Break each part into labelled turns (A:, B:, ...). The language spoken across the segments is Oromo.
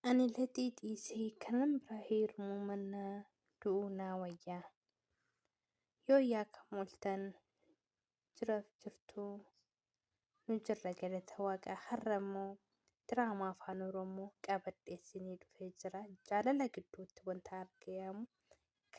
A: Ani laxii dhiisee kanan biraa heerumuu mannaa du'uu naa wayyaa. Yoo yaakam oltan jiraaf jirtuu nu jirra galata waaqa har'a immoo diraamaa afaan oromoo qabadheessinii dhufee jira jaalala gidduutti wanta argamu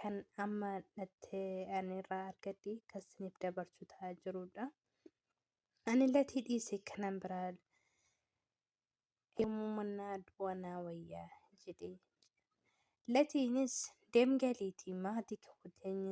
A: kan amma natti anirraa argadhe kan siniif dabarsu ta'aa jirudha. Ani latii dhiise kanan biraa yommuu mannaa du'a naa wayyaa jedhe. Latiinis deemgaliitii maatii kee wajjin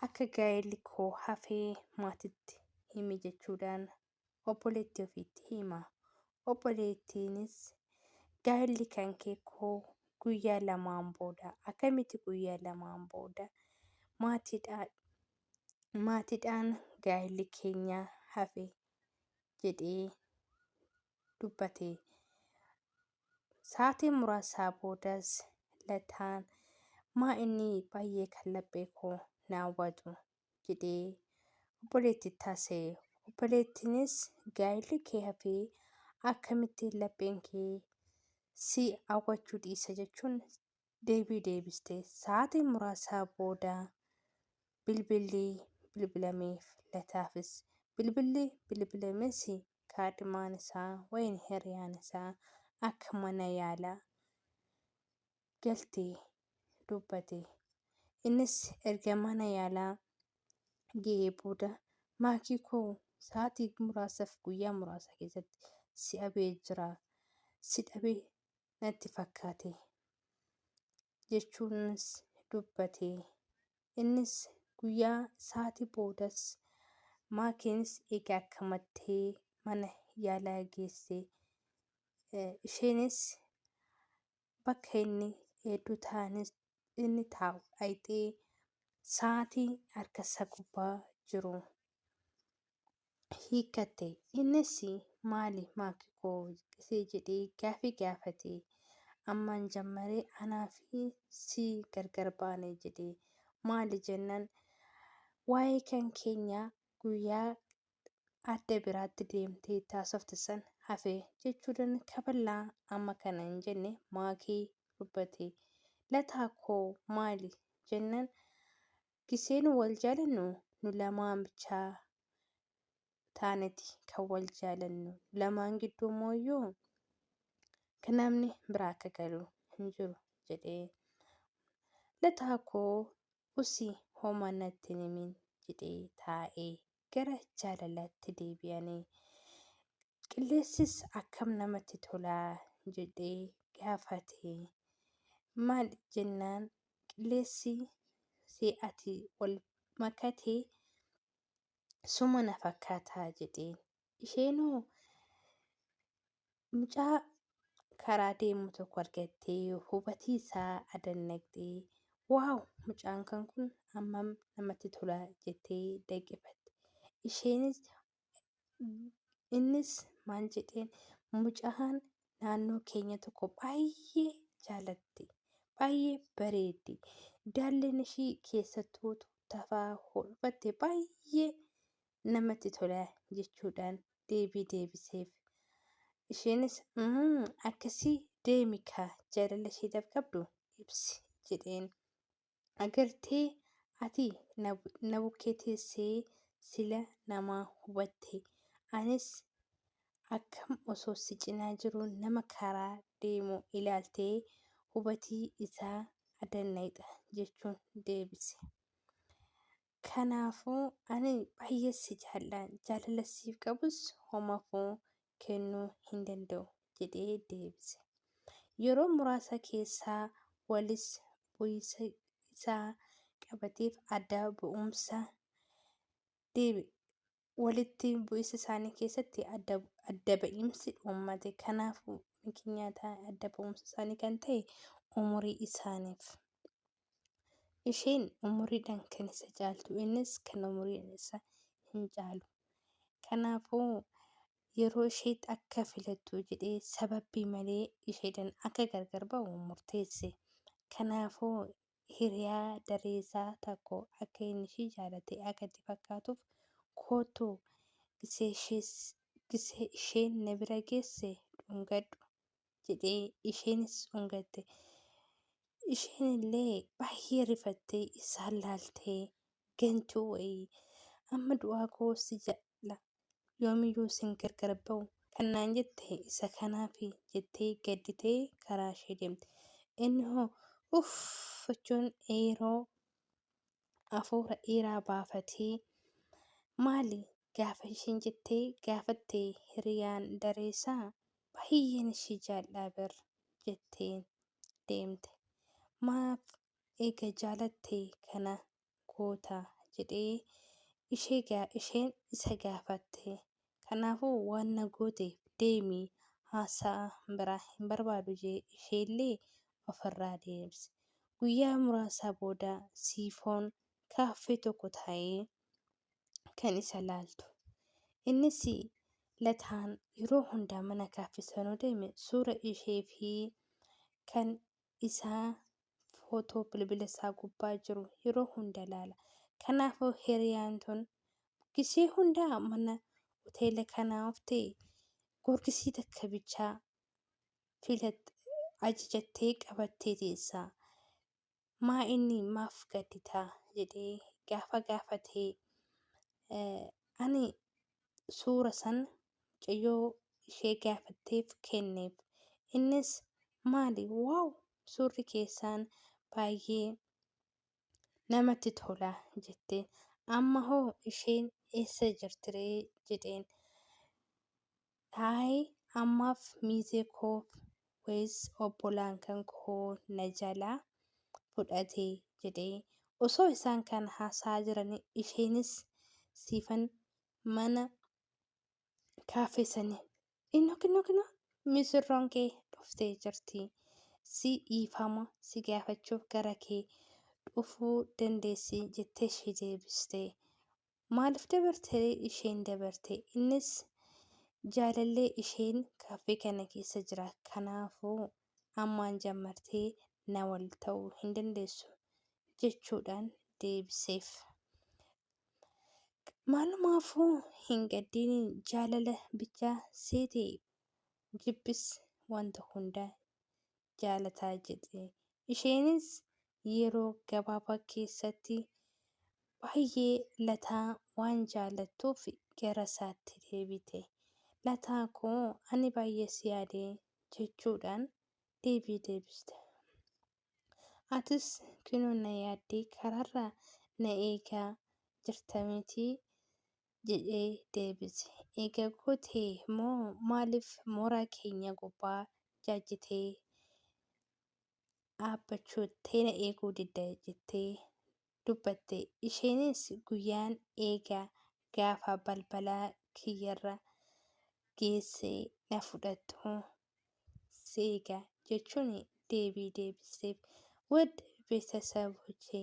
A: akka gaa'elli koo hafee maatitti himi jechuudhaan obboleettii ofiitti hima. Obboleettiinis gaa'elli kan kee koo guyyaa lamaan booda akkamitti guyyaa lamaan booda maatiidhaan maatiidhaan gaa'elli keenya hafe jedhee dubbate. Sa'aatii muraasaa boodas lataan maa inni baay'ee kan laphee koo na hawwatu jedhee obboleetti itti haasa'e. Obboleettiinis gaa'illi kee hafee akkamitti lapheen kee si hawwachuu dhiisa jechuun deebii deebiste. Sa'aatii muraasaa booda bilbilli bilbilameef lataafis. Bilbilli bilbilames kaadhimaan isaa wayin hiriyaan isaa akka mana yaala galte dubbate. Innis erga mana yaalaa ga'ee booda maakii koo sa'aatii muraasaaf guyyaa muraasa keessatti si dhabee jira. Si dhabe natti fakkaate jechuunis dubbate. Innis guyyaa sa'aatii boodas maakiinis eega akkamattee mana yaalaa geesse. Isheenis bakka inni hedduu taa'anis inni taa'u dhayxee sa'aatii harka isaa gubbaa jiru hiikkatte. Innis maali maaki koo isee jedhee gaafii gaafate. Ammaan jammaree anaa fi si gargar baane jedhe. Maali jennan waa'ee kan keenya guyyaa adda biraatti deemtee itti haasofte san hafe jechuudhan kaballaa amma kana hin jenne maakii dubbate. Lataa koo maali jennan giseenu wal jaalannu nu lamaan bichaa taaneti kan wal jaalannu nu lamaan gidduu mooyyuu kan namni biraa akka galu hin jiru jedhee. Lataa koo usi homa natti hin himin jedhee taa'ee gara jaalalaatti deebi'ani. Qilleensis akkam namatti tolaa jedhee gaafate. Maal jennaan qilleensi si ati wal makate suma na fakkaataa jedheen. Isheenoo mucaa karaa deemu tokko argattee hubatii isaa adannaqxee waaw mucaan kan kun hammam namatti tola jettee daqifatte isheenis innis maal jedheen mucaan naannoo keenya tokko baay'ee jaalatte baay'ee bareeddi daalleen ishii keessattuu tafaa hodhfatte baay'ee namatti tola jechuudhaan deebii deebiseef. Isheenis "Mm, akkasii deemi kaa jaalala isheedhaaf qabdu ibsi jedheen. Agartee ati na bu- na bukkee teessee sila namaa hubatte. Anis akkam osoo si cinaa jiruu nama karaa deemu ilaaltee hubatii isaa adannayxa jechuun deebise. Kanaafuu ani baay'ee si jaalladha, jaalala siif qabus homaafuu kennuu hin danda'u jedhee deebise. Yeroo muraasa keessa walis bu'iinsa isaa qabateef adda ba'umsa deebi'e. walitti bu'insa isaanii keessatti adda adda ba'iinsi uummate. Kanaafuu mikinyaata adda ba'umsa isaanii kan ta'e umurii isaaniif. Isheen umuriidhaan kan isa caaltu innis kan umuriin isa hin caalu. Kanaafuu yeroo isheetti akka filattu jedhee sababbii malee isheedhaan akka gargar ba'u murteesse. Kanaafuu hiriyaa dareesaa takko akka inni ishii jaalate akka itti fakkaatuuf koottu gisee isheen na bira geesse dhungadhu jedhee isheenis dhungatte. Isheen illee baay'ee rifattee isaan laaltee gantuu wayii amma du'aa koo si jala yoomiyyuu isin gargar ba'u kan naan jette isa kanaafi jettee gadditee karaa ishee deemte. Inni hoo uff jechuun yeroo hafuura dheeraa baafatee maali gaafa ishiin jettee gaafatte hiriyaan dareesaa baay'een ishii jaal'aa bar jetteen deemte. Maaf eega jaalatte kana goota? jedhee isheen isa gaafatte. Kanaafuu waan na gooteef deemi haasaa biraa hin barbaadu jedhee isheellee ofirraa deebise. Guyyaa muraasa booda Siifoon kaaffee tokko taa'ee kan isa laaltu. Innis Lataan yeroo hunda mana kaaffee sanuu deeme suura ishee fi kan isaa footoo bilbila isaa gubbaa jiru yeroo hunda ilaala. Kanaafuu hiriyaan tun gizee hundaa mana hoteela kanaa oftee gorgisii takka bichaa filat ajajattee qabattee teessaa. Maa inni maaf gadditaa jedhee gaafa gaafatee ani suura san mucayyoo ishee gaafatteef kenneef. Innis maali waaw suurri keessaan baay'ee namatti tola jetteen. Amma hoo isheen eessa jirtiree jedheen. Ayi ammaaf miizee koof ways obbolaan kan koo na jalaa fudhate jedhee osoo isaan kan haasa'aa jiranii isheenis siifan mana kaaffee sanii inno kinno kinno misirroon kee dhuftee jirti si dhiifama si gaafachuuf gara kee dhufuu dandeessi jettee ishee deebiste Maaliif dabartee isheen dabarte? Innis jaalallee isheen kaaffee kana keessa jira. Kanaafuu ammaan jammartee na wal ta'uu hin dandeessu jechuudhaan deebiseef. Maalumaafuu hin gaddiin jaalala bichaa seete jibbis wanta hunda jaalataa jedhe. Isheenis yeroo gabaabaa keessatti baay'ee Lataa waan jaallattuuf garasaatti deebite. Lataa koo ani baay'ee si yaade jechuudhaan deebii deebiste. Atis kunoo na yaaddee karaarra na eegaa jirta mitii? jedhee deebise. Eega goote moo maaliif mooraa keenya gubbaa jaajjitee dhaabbachuu teena eeguu didda jettee dubbatte. Isheenis guyyaan eega gaafa balbala kiyyarra geesse na fudhattu si eega jechuun deebii deebisteef. Wad betesaboche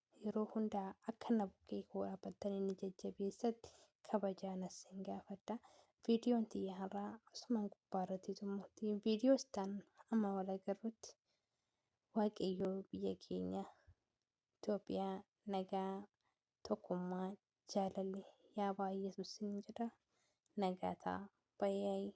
A: Yeroo hunda akka na bukkee koo dhaabbattanii na jajjabeessatti kabajaan isin gaafadha. Viidiyoon tiyya har'aa asumaan gubbaa irratti xumurti. Viidiyoo istaan amma wal agarrutti Waaqayyoo biyya keenya Itoophiyaa nagaa, tokkummaa, jaalalli yaa baay'atu isin jedha. Nagaa ta'a. Bayaayii.